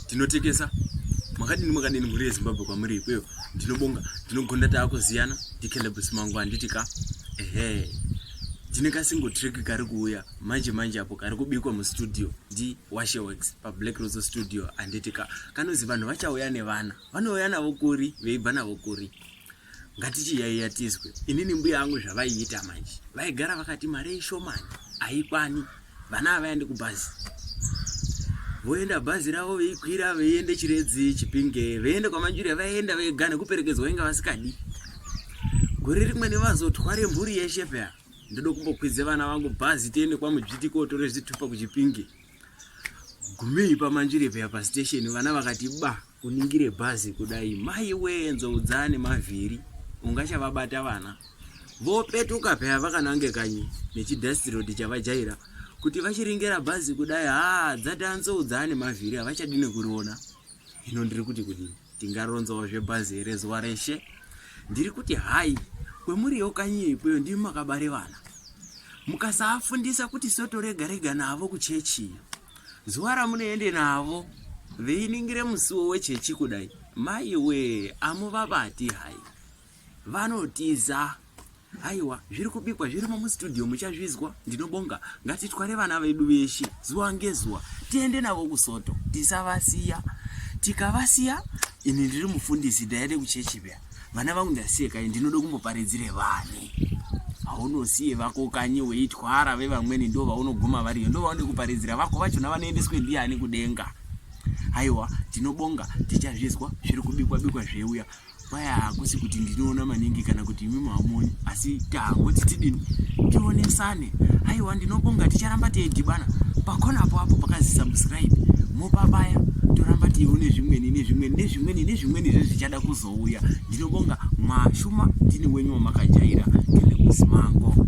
tinotekesa makadini makadini mhuri yezimbabwe kwamuri ikweyo ndinobonga ndinogonda taakuziyana ndikelebus mangu handiti ka ehe tine kasingo trick kari kuuya manje manje apo kari kubikwa mustudio ndi washeworks pablack roso studio handiti ka kanozi vanhu vachauya nevana vanouya navo kuri veibva navo kuri ngatichiyaiya tizwe inini mbuya vangu zvavaiita manje vaigara vakati mari ishomani haikwani vana havaendi kubhazi voenda bhazi ravo veikwira veiende chiredzi chipinge veiende kwamanjurya vaienda vega nekuperekedzwa inga vasikadi gore rimwe nevazotware mhuri yeshe pea ndoda kumbokwidze vana vangu bhazi tiende kwamudzviti kotore zvitupa kuchipinge gumei pamanjire peya pastation vana vakati ba uningire bhazi kudai mai wee nzoudzane mavhiri ungachavabata vana vopetuka peya vakanange kanyi nechidhastirodi chavajaira kuti vachiringera bhazi kudai haa dzati anzoudzane mavhiri havachadine kuriona hino ndiri kuti kudini Tingaronzawo zvebazi here zuva reshe? Ndiri kuti hai, kwemuriwo kanyi ikweyo ndimi makabare vana. Mukasaafundisa kuti soto rega rega navo kuchechi iyo. Zuva ramunoende navo veiningire musiwo wechechi kudai, maiwe amuvabati hai. vanotiza aiwa zviri kubikwa zvirimo mustudio muchazvizwa ndinobonga ngatitware vana vedu veshe zuva ngezuva tiende navo kusoto tisavasiya tikavasiya ini ndiri mufundisi ndaende kuchechi pya vana vangu ndasiye kai ndinoda kumboparidzire vani haunosiye vako kanyi weitwara vevamweni ndo vaunoguma variyo ndo vaone kuparidzira vako vachona vanoendeswe ndiani kudenga aiwa tinobonga tichazvizwa zviri kubikwa bikwa zveuya paya hakusi kuti ndinoona maningi kana kuti imi maamoni asi tangoti tidini tionesane aiwa ndinobonga ticharamba teidhibana pakona apo apo pakazi subscribe mopabaya toramba tione zvimweni nezvimweni nezvimweni nezvimweni zvezvichada kuzouya ndinobonga mwashuma ndini wenyu wamakajaira ndine kusimango